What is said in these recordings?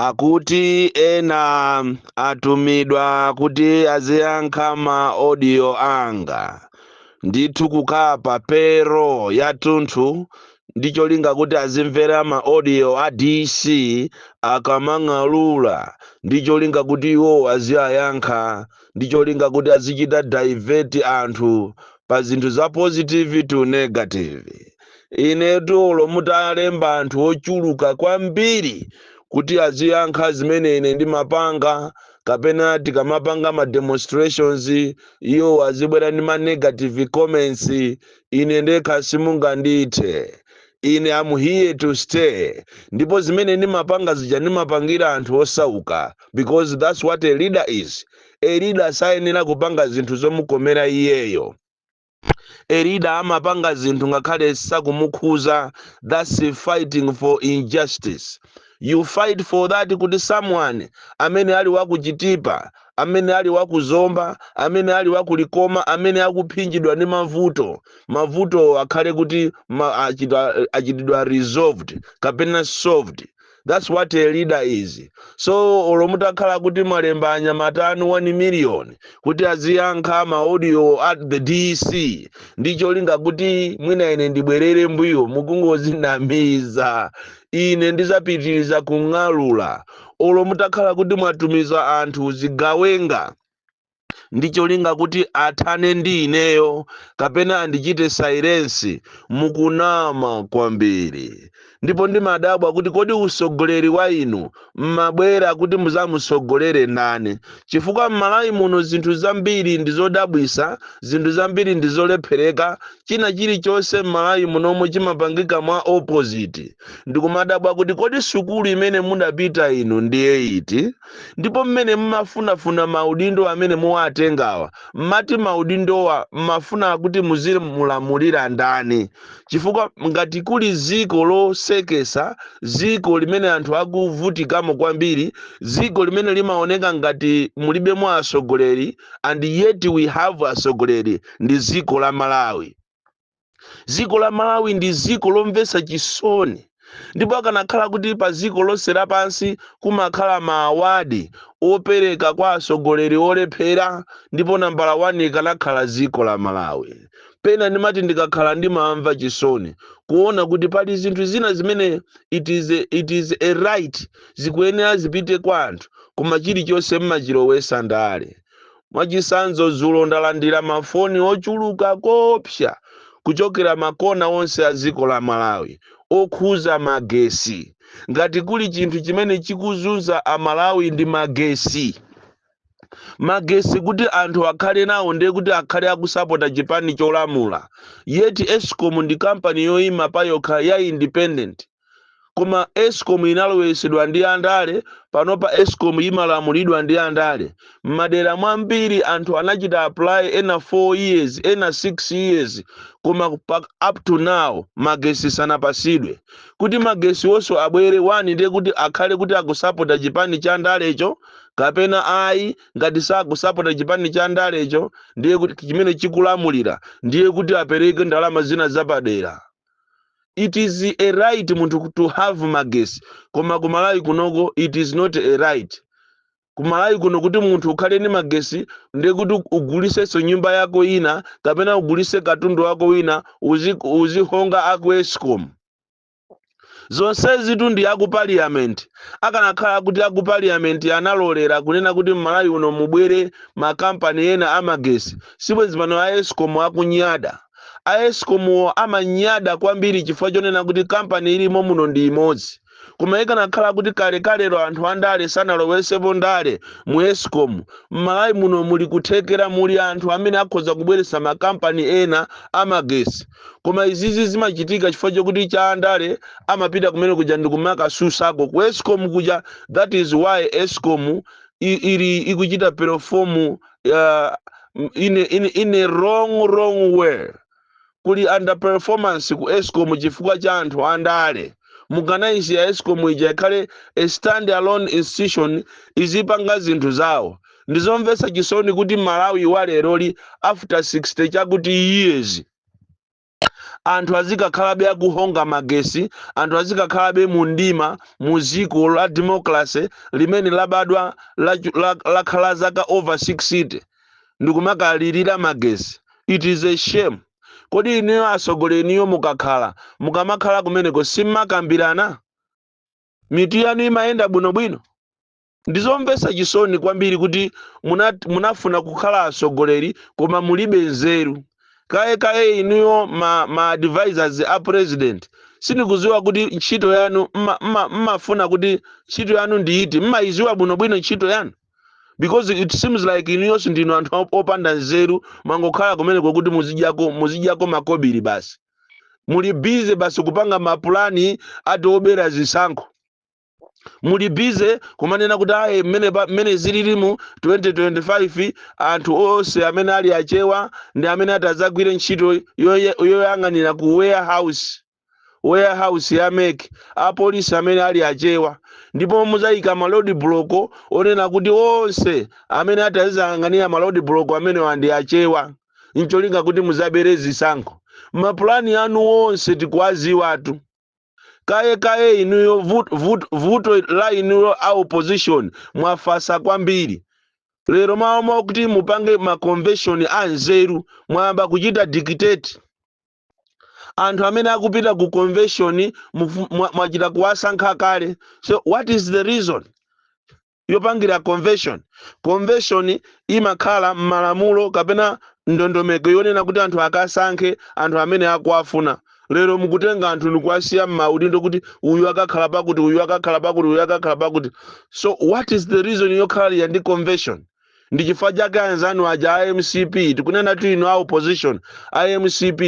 akuti ena atumidwa kuti aziyankha ma audio anga ndithu kukhala pa payroll yathunthu ndi cholinga kuti azimvera ma audio a dc akamang'alula ndi cholinga kuti iwo aziyayankha ndi cholinga kuti azichita divert anthu pa zinthu za positive to negative Inetu olo mutalemba anthu ochuluka kwambiri kuti aziyankha zimene ine ndimapanga kapena tikamapanga ma demonstrations iwo azibwera ndi ma negative comments ine ndekha simungandithe ine am here to stay ndipo zimene ndimapanga zija ndimapangira anthu osauka because that's what a leader is a leader sayenera kupanga zinthu zomukomera iyeyo a leader amapanga zinthu ngakhale sakumukhuza thats fighting for injustice you fight for that kuti someone amene ali wakuchitipa amene ali wakuzomba amene ali wakulikoma amene akuphinjidwa ndi mavuto mavutowo akhale kuti achitidwa resolved kapena solved That's what a leader is. So olo mutakhala kuti mwalemba anyamata anu 1 million kuti aziyankha ma audio a the DC ndi cholinga kuti mwina ine ndibwerere mbuyo mukungozinamiza. Ine ndizapitiriza kung'alula. Olo mutakhala kuti mwatumiza anthu zigawenga ndi cholinga kuti athane ndi ineyo kapena andichite silence mukunama kwambiri ndipo ndimadabwa kuti kodi usogoleri wa inu mmabwera kuti muzamusogolere ndani chifukwa mmalawi muno zinthu zambiri ndizodabwisa zinthu zambiri ndizolephereka china chilichonse mmalawi munomo chimapangika mwa opposite ndikumadabwa kuti kodi sukulu imene mudapita inu ndiye iti ndipo mmene mmafunafuna maudindo amene muwatengawa mmati maudindowa mmafuna kuti muzimulamulira ndani chifukwa ngati kuli ziko losekesa ziko limene anthu akuvutikamo kwambiri ziko limene limaoneka ngati mulibemo asogoleri and yet we have asogoleri ndi ziko la malawi dziko la malawi ndi dziko lomvetsa chisoni ndipo akanakhala kuti pa ziko lonse lapansi kumakhala ma award opereka kwa asogoleri olephera ndipo nambala 1 ikanakhala dziko la malawi pena ndimati ndikakhala ndimamva chisoni kuona kuti pali zinthu zina zimene it is a, it is a right zikuyenera zipite kwa anthu koma chilichonse mmachilowesa ndale Mwachitsanzo, dzulo ndalandira mafoni ochuluka koopsa kuchokera makona onse a dziko la Malawi okhuza magesi. Ngati kuli chinthu chimene chikuzunza a Malawi ndi magesi. Magesi kuti anthu akhale nawo ndiye kuti akhale akusapota chipani cholamula. Yet Escom ndi kampani yoima payokha ya independent. koma escom inaloweresedwa ndi andale panopa escom yimalamulidwa ndi andale mmadera mwambiri anthu anachita apply ena 4 years ena 6 years koma pa, up to now magesi sanapasidwe kuti magesi wonso abwere wani ndiye kuti akhale kuti akusapota chipani cha ndalecho kapena ayi ngati sakusapota chipani cha ndalecho ndiye kuti chimene chikulamulira ndiye kuti apereke ndalama zina zapadera it is a right munthu to have magesi koma kumalawi kunoko it is not a right kumalawi kuno kuti munthu ukhale ndi magesi ndiye kuti ugulisenso nyumba yako ina kapena ugulise katundu wako wina uzi- uzihonga aku escom zonsezitu ndi aku parliament akanakhala kuti aku parliament analolera kunena kuti mmalawi uno mubwere makampani ena amagesi sibwenzi pano a escom akunyada A escom wo amanyada kwambiri chifukwa chonena kuti company ilimo muno ndi imodzi. Koma ikanakhala kuti kalekalelo anthu andale sanalowesepo ndale mu escom, mmalawi muno muli kuthekera muli anthu amene akhoza kubweretsa makampani ena amagesi. Koma izizi zimachitika chifukwa chokuti cha andale amapita kumene kuja ndikumakasutsako ku escom kuja that is why escom i ili ikuchita perform uh, in, in, in a wrong wrong way kuli underperformance ku escom chifukwa cha anthu andale mukanayisiya escom ija ikhale a stand alone institution izipanga zinthu zawo ndizomvetsa chisoni kuti malawi wa leroli after 60 chakuti years anthu azikakhalabe akuhonga magesi anthu azikakhalabe mu mdima mu dziko la democracy limene labadwa lachu- la- lakhala zaka over 60 ndikumakalirira magesi it is a shame kodi inuyo atsogoleri inuyo mukakhala mukamakhala kumeneko simmakambirana mitu yanu imayenda bwinobwino Ndizomvetsa chisoni kwambiri kuti munat, munafuna kukhala atsogoleri koma mulibe nzeru. Kaye kaye inuyo ma, ma advisors a president sindikuziwa kuti ntchito yanu mma- mma- mmafuna kuti ntchito yanu ndi iti mmayiziwa bwinobwino ntchito yanu because it seems like inuyonso ndinu anthu op- opanda nzeru mangokhala kumeneko kuti muzidyako muzidyako makobiri basi muli busy basi kupanga mapulani ati obera zisankho muli busy kumanena kuti ayi mmene pa- mmene zilili mu 2025 anthu onse amene ali achewa ndi amene atadzagwire ntchito yoye- yoyang'anira ku warehouse warehouse ya mec apolisi amene ali achewa ndipo muzayika ma road block onena kuti onse amene atazayang'anira ma road block amenewa ndi achewa ncholinga kuti muzabere zisankho mapulani anu onse tikuwaziwatu kaye kaye inuyo vut, vut, vuto la inuyo a opposition mwafasa kwambiri lero m'malo mwakuti mupange ma convention anzeru mwayamba kuchita dictate anthu amene akupita ku convention mufu- mwa- mwachita kuwasankha kale so what is the reason yopangira convention convention imakhala m'malamulo kapena ndondomeko yonena kuti anthu akasankhe anthu amene akuwafuna lero mukutenga anthu ndikuwasiya m'maudindo kuti uyu akakhala pakuti uyu akakhala pakuti uyu akakhala pakuti so what is the reason yokhalira ndi convention ndi chifukwa chake anzanu aja a mcp tikunenatu inu a opposition a mcp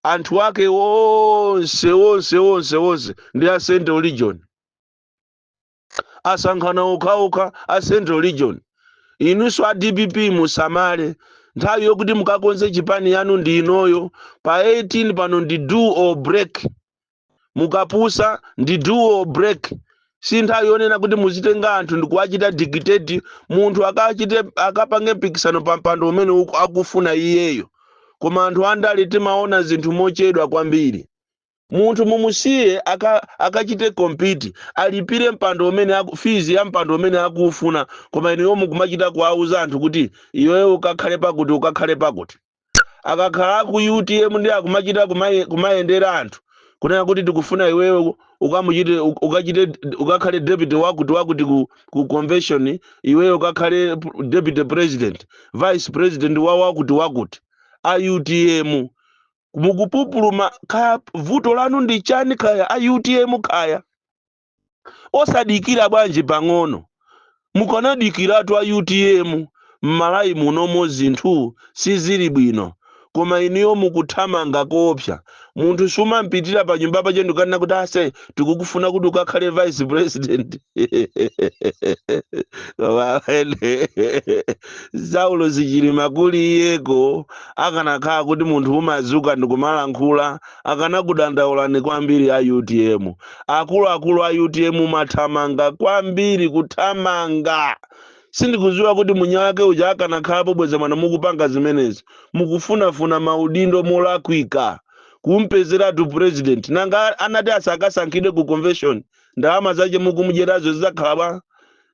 anthu ake onse onse onse onse ndi a central region asankhana okhaokha a central region inunso a dpp musamale nthawi yokuti mukakonze chipani yanu ndi inoyo pa 18 pano ndi do or break mukapusa ndi do or break si nthawi yonena kuti muzitenga anthu ndikuwachita dictate munthu akachite akapange mpikisano pa mpando umene uku- akufuna iyeyo koma anthu andale timaona zinthu mochedwa kwambiri Munthu mumusiye aka akachite compete alipire mpando umene aku, fees ya mpando umene akuufuna koma inuyo mukumachita kuwauza anthu kuti iweyo ukakhale pakuti ukakhale pakuti. Akakhala aku utm ndiye akumachita kumaye, kumayendera anthu kunena kuti tikufuna iweyo u- ukamuchite u- ukachite ukakhale deputy wakuti wakuti ku, ku convention iweyo ukakhale p- deputy president vice president wa wakuti wakuti a utm mukupupuluma kaya vuto lanu ndi chani kaya a utm kaya osadikira bwanji pang'ono mukanadikiratu a utm m'malawi munomo zinthu sizili bwino koma inuyo mukuthamanga koopsa munthu sumampitira pa nyumba pache ndikanena kuti ase tikukufuna kuti ukakhale vice president saulos chilima kuli iyeko akanakhala kuti munthu umazuka ndikumalankhula akanakudandaulani kwambiri a utm akuluakulu a utm mumathamanga kwambiri kuthamanga sindikuziwa kuti mwini wake uja akanakhalapo bweza mwina mukupanga zimenezi mukufunafuna maudindo molakwika kumpezeratu president nanga anati asakasankhidwe ku convention ndalama zache mukumudyerazo zizakhala bwa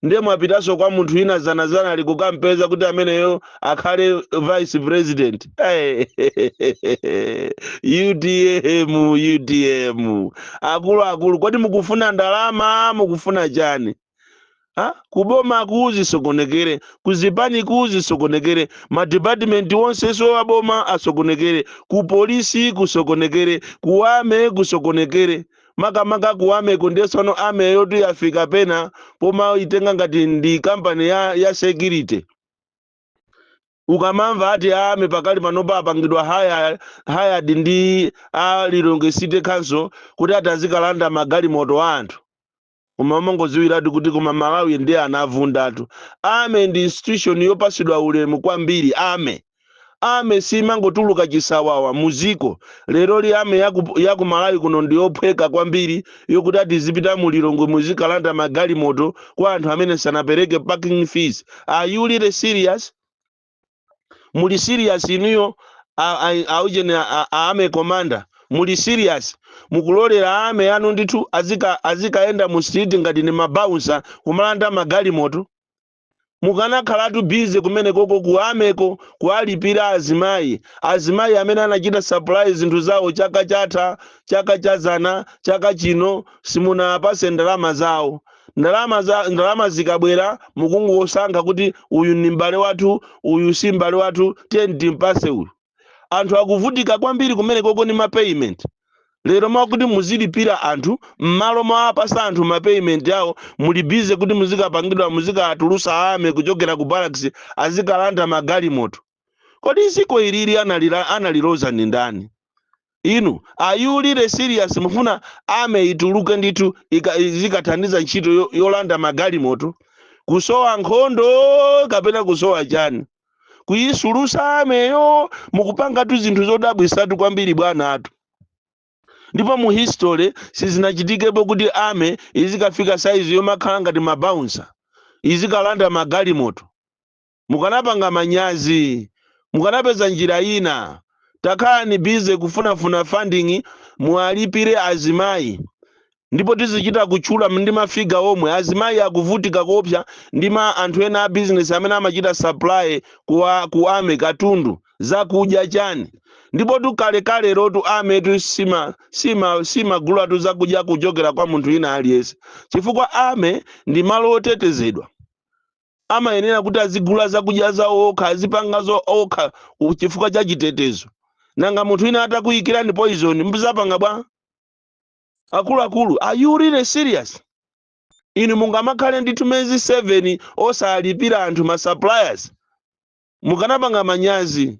ndiye mwapitanso kwa munthu ina zanazanali kukampeza kuti ameneyo akhale vice president Eh, utm utm akuluakulu kodi mukufuna ndalama mukufuna chani Ha? kuboma kuzisokonekere kuzipani kuzisokonekere madipatimenti onsenso wa boma asokonekere kupolisi kusokonekere ku army kusokonekere makamaka ku army ko ndiye tsopano army yotu yafika pena pomaitenga ngati ndi kampani ya, ya security ukamamva ati army pakali panopa apangidwa haya hired ndi a lilongwe city council kuti atazikalanda magalimoto a anthu koma umangodziwiratu kuti koma malawi ndiye anavundatu army ndi institution yopasidwa ulemu kwambiri army army simangotuluka chisawawa muziko leroli army yaku, yaku malawi kuno ndi yophweka kwambiri yokuti atizipita mu lilongwe muzikalanda magalimoto kwa anthu amene sanapereke parking fees are you really serious muli serious inuyo a- a- aujeni a- a- a army commander muli serious mukulolera army anu ndithu azika- azikayenda mu street ngati ni mabaunsa kumalanda magalimoto mukanakhalatu busy kumenekoko ku army ko kuwalipira azimayi azimayi amene anachita supply zinthu zawo chaka chatha chaka chazana chaka chino simunawapase ndalama zawo Ndalama za ndalama zikabwera mukungosankha kuti uyu ndi m'bale wathu, uyu si m'bale wathu, tiyeni timpatse uyu. Anthu akuvutika kwambiri kumenekoko ndi ma payment. Lero m'malo mwakuti muzilipira anthu, m'malo mowapatsa anthu ma payment awo, muli busy kuti muzikapangidwa muzikatulutsa army kuchokera ku barracks azikalanda magalimoto. kodi ziko ilili analila analiloza ndi ndani inu are you really serious mufuna army ituluke ndithu ika- izikathandiza ntchito yo- yolanda magalimoto kusowa nkhondo kapena kusowa chani kuyisulusa army yo mukupangatu zinthu zodabwisatu kwambiri bwanatu ndipo mu history sizinachitikepo kuti army izikafika saizi yomakhala ngati mabaunsa izikalanda magalimoto mukanapanga manyazi mukanapeza njira yina takhalani busy kufunafuna funding muwalipire azimayi ndipo tizichita kutchula ndi ma figure omwe azimayi akuvutika koopsa ndi ma anthu ena a business amene amachita supply kuwa ku army katundu zakudya chani ndipo tu kalekalelotu army tu sima sima simagulatu zakudya kuchokera kwa munthu wina aliyense chifukwa army ndi malo otetezedwa amayenera kuti azigula zakudya zawo okha, azipangazo okha ku- chifukwa cha chitetezo. Nanga munthu wina atakuikirani poison, muzapanga bwa? Akuluakulu, are you really serious? Inu mungamakhale ndithu mezi 7 osalipira anthu ma suppliers. Mukanapanga manyazi.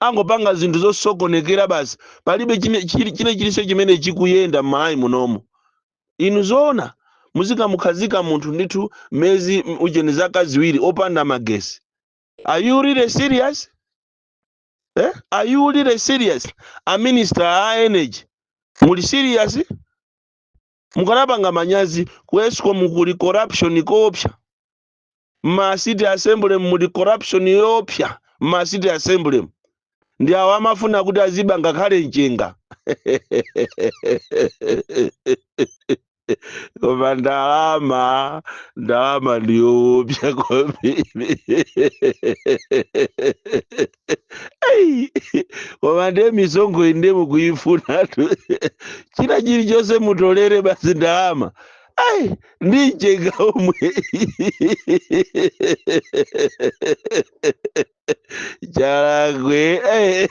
angopanga zinthu zosokonekera basi palibe chine- chili- chilichonse chimene chikuyenda m'malawi munomo inu zoona muzikamukhazika munthu ndithu mezi m- ujeni zaka ziwiri opanda magesi are you really serious eh? are you really serious a minister a energy muli serious mukanapanga manyazi ku escom kuli corruption koopsa mma city assembly muli corruption yoopsa mma city assemblymu ndi awo amafuna kuti aziba ngakhale mchenga koma ndalama ndalama ndiyoopsa kwambiri Ei, koma ndiye misonkho iyi ndiye mukuyifunatu china chilichonse mutolere basi ndalama ai ndi mchenga omwe chalakwe eh.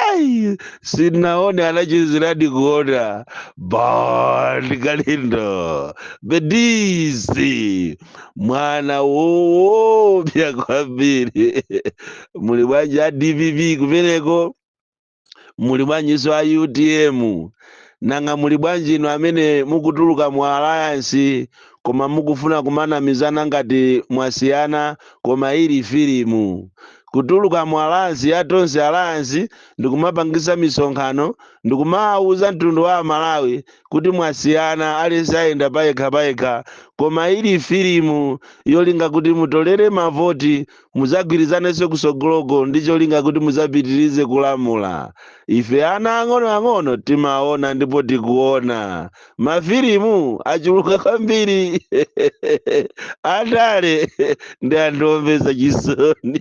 ai sinaone anachiziradi kuona Bon Kalindo Born DC mwana woopsya kwambiri muli bwanji a dpp kumeneko muli bwanjinso a utm nanga muli bwanji inu amene mukutuluka mu alliance koma mukufuna kumanamizana ngati mwasiyana koma ili filimu kutuluka mu alliance ya tonse alliance ndikumapangisa misonkhano ndikumawuza mtundu wa amalawi kuti mwasiyana aliyense ayenda payekha payekha koma ili filimu yolinga kuti mutolere mavoti muzagwirizanenso kusogoloko ndi cholinga kuti muzapitirize kulamula ife ana ang'ono ang'ono timaona ndipo tikuona mafilimu achuluka kwambiri andale ndi anthu omvetsa chisoni